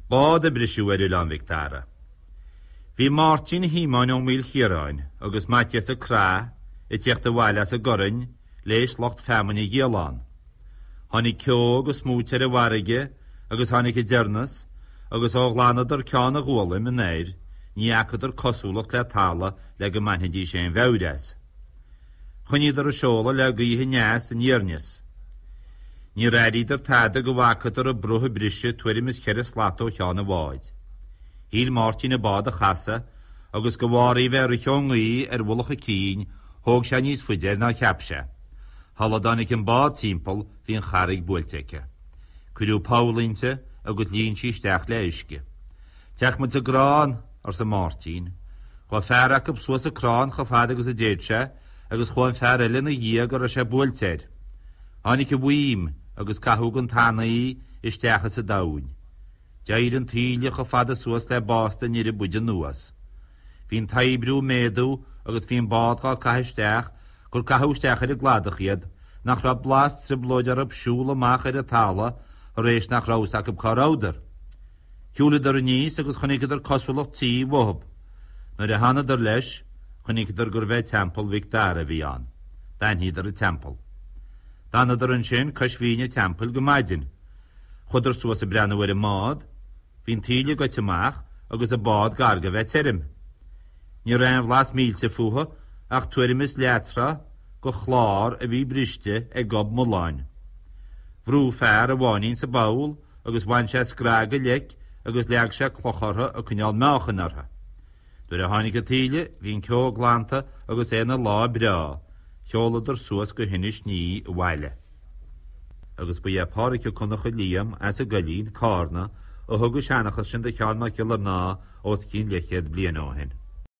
Bád a briseadh ar Oileán Mhic Dara. Bhí Máirtín Shíomóin Ó Maoilchiaráin agus Maitias Mac Craith ag tíocht abhaile as an gCorainn léis lucht feamainne a dhíol ann. Tháinig ceo agus smúit ar an bhfarraige agus tháinig an deireanas agus ó ghlanadar Ceann Gólaim anoir ní fhacadar cosúlacht le talamh le go mbainfidís aon mheabhair as. Choinníodar ag seoladh le gaoth aneas aniar aneas. Níor airíodar tada go bhfacadar an bruth ag briseadh tuairim is cheithre slat ó cheann an bháid. Shíl Máirtín an bád a chasadh agus de bharr í bheith ag rith ón ngaoth ar mhullach a cinn, thóg sé níos faide air ná cheap sé. Shula dtáinig an bád timpeall bhí an charraig buailte aici. Cuireadh poll inti agus líon sí isteach le uisce. Téadh muid sa gcrann, arsa Máirtín. Chuaidh fear acu suas an crann chomh fada agus a d'fhéad sé agus chuaidh an fear eile ina dhiaidh go raibh sé buailte air. Tháinig an mhaidhm agus caitheadh den tanaí isteach sa domhain. D'éirigh an taoille chomh fada suas le básta an fhir a b'fhuide anuas. Bhí'n t-oibriú ag méadú agus bhí'n bád dhá caitheadh isteach gur caitheadh isteach ar an gcladach iad nach raibh blas trioblóid orthub siúl amach ar an tala' thar éis nach raibh a fhios acu cá rabhadar. Shiúileadar aníos agus chonaiceadar cosúlacht tí uathub. Nuair a thánadar leis, chonaiceadar gurbh é Teampall Mhic Dara a bhí ann. D'aithníodar an teampall. D'fhanadar ansin cois bhinn an teampaill go maidin. Chuadar suas ag breathnú ar an mbád. Bhí an taoille goite amach agus an bád gar go bheith tirim. Ní raibh aon bhlas millte fúithi ach tuairim is leath-throigh de chlár a bhí briste ag gob mulláin. Bhrú fear a bháinín sa bpoll. agus bhain sé scraith de leic agus leag sé cloch uirthi ag coinneáil meáchain uirthi. Nuair a tháinig an taoille bhí an ceo glanta agus é ina lá breá, sheoladar suas go hInis Ní abhaile. Agus ba é Pádraic Mac Donncha Liam as an gCoillín, Cárna, a thug an seanchas sin do Sheán Mac Giollarnáth os cionn leithchéad bliain ó shin.